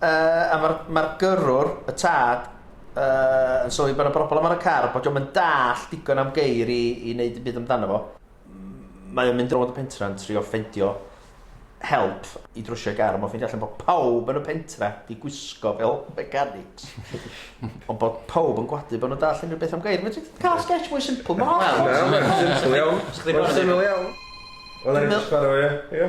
Yy, a mae'r ma gyrrwr, y tad, uh, yn sylwi bod yna broblem ar y car, bod yna'n dall digon am geir i, i wneud yn byd amdano fo. Mae o'n mynd rownd y pentra'n trio ffendio help i drwsio gar, ond mae'n ffeindio allan bod pawb yn y pentra di gwisgo fel mechanics. ond bod pawb yn gwadu bod nhw'n dall unrhyw beth am gair. Mae'n cael sketch mwy simple. Mae'n holl. Mae'n simple iawn. Mae'n simple iawn. Wel, ar i ddechrau, ie.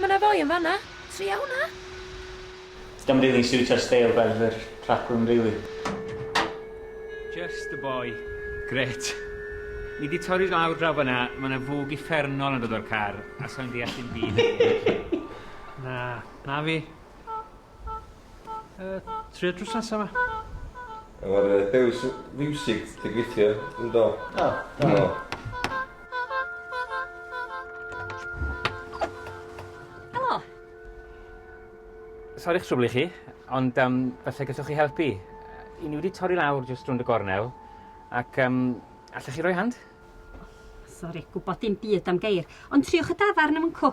Mae 'na foi yn fan'na! Tria hwnna! Dio'm rili'n siwtio'r steil beirdd yr rhaglen rili. Just a boy. Grêt. Ni 'di torri lawr draw fan'na, ma' 'na fwg uffernol yn dod o'r car, a sai'n deall dim byd am hyn. Na, na fi. Yy, trio drws nesa 'ma. Efo'r yy dews fiwsig ti'n gweithio yndo? O, do. Do. Helo! Sori i'ch trwblu chi, ond yym falle gallwch chi helpu. Yy 'yn ni wedi torri lawr jyst rownd y gornel ac yym allech chi roi hand? Sori, gwbod dim byd am geir, ond triwch y dafarn a mwncw.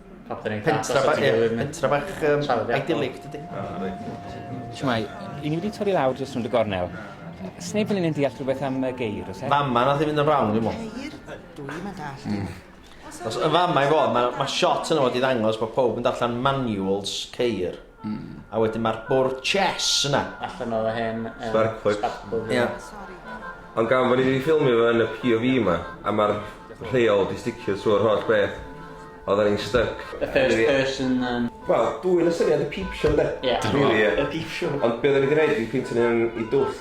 Pam dyn ni'n pentra bach, ie, pentra bach um, idyllic, dydy. Siwmai, i ni wedi torri lawr dros rhwnd y gornel. Sneb yn un deall rhywbeth am y geir, os e? Mama, nath i fynd yn rawn, dwi'n mwyn. Geir? Dwi'n mynd all. Hmm. Os yn fama i fod, mae ma shot yna fod i ddangos bod pob yn darllen manuals ceir. Mm. A wedyn mae'r bwrdd chess yna. Allan o'r hen... Um, spark plug. Spark plug. Ie. Yeah. Ond gan fod ni wedi ffilmio fo yn y POV yma, a mae'r rheol di sticio trwy'r holl beth, oedden ni'n stuck. The first person... Um... Wel, dwi'n y syniad y peep show, de? Ie. Yeah. Really, ie. Yeah. Y peep show. Ond be oedden ni wedi gwneud, dwi'n peintio nhw'n i dwll.